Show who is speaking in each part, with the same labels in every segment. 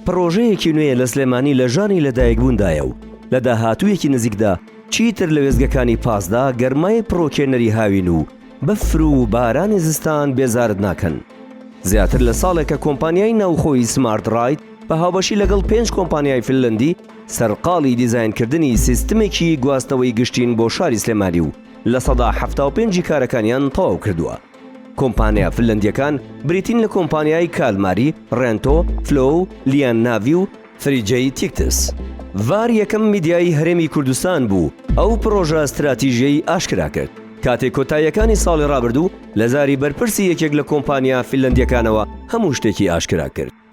Speaker 1: پڕۆژەیەکی نوێ لە سلێمانی لە ژانی لەدایکبووندایە و لە داهاتوویەکی نزیکدا چیتر لە وێستگەکانی پاسدا گەرمای پڕۆکێنەری هاوین و بەفر و بارانی زستان بێزارت ناکەن. زیاتر لە ساڵێکە کۆمپانیای ناوخۆی سمارت ڕاید بە هاوبەشی لەگەڵ پێنج کۆمپانیای فنلەندی سەرقاڵی دیزاینکردنی سیستمێکی گواستنەوەی گشتین بۆ شاری سلێمانی و لە سەدا حەفتا و پێنجی کارەکانیان تەواو کردووە. کۆمپانیا فنلەندییەکان بریتین لە کۆمپانیای کالماری، ڕێنتۆ، فلۆو، لیان ناڤی و فریجەی تیکتس. ڤار یەکەم میدیایی هەرێمی کوردستان بوو ئەو پڕۆژە ستراتیژیەی ئاشکرا کرد کاتێک کۆتاییەکانی ساڵی ڕابردوو لە زاری بەرپرسی یەکێک لە کۆمپانیا فنلەندییەکانەوە هەموو شتێکی ئاشکرا کرد.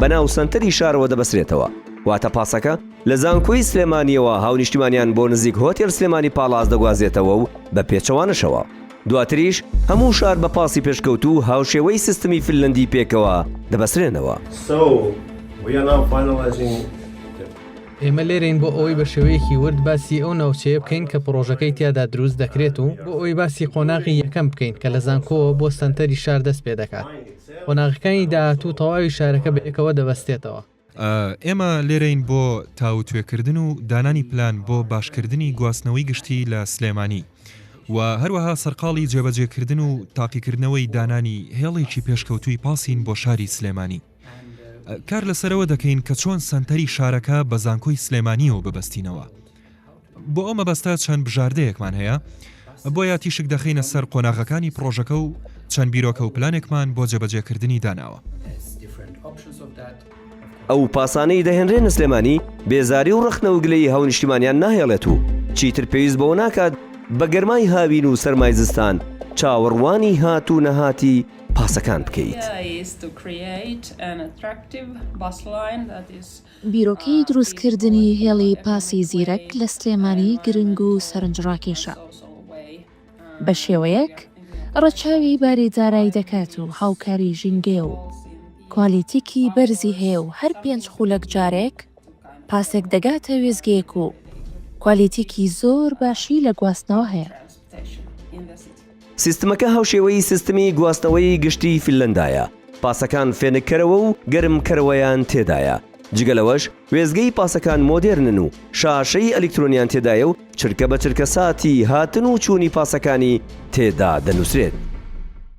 Speaker 1: بە ناو سەنتەری شارەوە دەبەسرێتەوە، واتە پاسەکە لە زانکۆی سلێمانییەوە هاونیشتیمانیان بۆ نزیک هۆتێل سلێمانی پاڵاس دەگوازێتەوە و بە پێچەوانەشەوە. دواتریش هەموو شار بە پاسی پێشکەوتوو هاوشێوەی سیستمی فنلەندی پێکەوە دەبەسرێنەوە.
Speaker 2: ئێمە لێرەین بۆ ئەوەی بە شێوەیەکی ورد باسی ئەو ناوچەیە بکەین کە پڕۆژەکەی تیادا دروست دەکرێت و بۆ ئەوەی باسی قۆناغی یەکەم بکەین کە لە زانکۆوە بۆ سەنتەری شار دەست پێدەکات. قۆناغەکانی داهاتوو تەواوی شارەکە بە یەکەوە دەبەستێتەوە. ئێمە
Speaker 3: لێرەین بۆ تاوتوێکردن و دانانی پلان بۆ باشکردنی گواستنەوەی گشتی لە سلێمانی و هەروەها سەرقاڵی جێبەجێکردن و تاقیکردنەوەی دانانی هێڵێکی پێشکەوتووی پاسین بۆ شاری سلێمانی. کار لەسەرەوە دەکەین کە چۆن سەنتەری شارەکە بە زانکۆی سلێمانییەوە ببەستینەوە. بۆ ئەو مەبەستە چەند بژاردەیەکمان هەیە، بۆیە تیشک دەخەینە سەر قۆناغەکانی پڕۆژەکە و چەند بیرۆکە و پلانێکمان بۆ جێبەجێکردنی داناوە.
Speaker 1: ئەو پاسانەی دەهێنرێنە سلێمانی بێزاری و ڕەخنە و گلەیی هاونیشتیمانیان ناهێڵێت و چیتر پێویست بەوە ناکات بە گەرمای هاوین و سەرمای زستان چاوەڕوانی هات و نەهاتی پاسەکان بکەیت.
Speaker 4: بیرۆکەی دروستکردنی هێڵی پاسی زیرەک لە سلێمانی گرنگ و سەرنجڕاکێشە، بەشێوەیەک ڕەچاوی باری دارای دەکات و هاوکاری ژینگەیە و کوالیتیکی بەرزی هەیە و هەر پێنج خولەک جارێک پاسێک دەگاتە وێستگەیەک و کوالیتیکی زۆر باشی لە گواستنەوە هەیە.
Speaker 1: سیستمەکە هاوشێوەی سیستمی گواستنەوەی گشتی فینلەندایە، پاسەکان فێنککەرەوە و گەرمکەرەوەیان تێدایە، جگە لەوەش وێستگەی پاسەکان مۆدێرنن و شاشەی ئەلیکترۆنیان تێدایە و چرکە بە چرکە ساتی هاتن و چوونی پاسەکانی تێدا دەنووسرێت.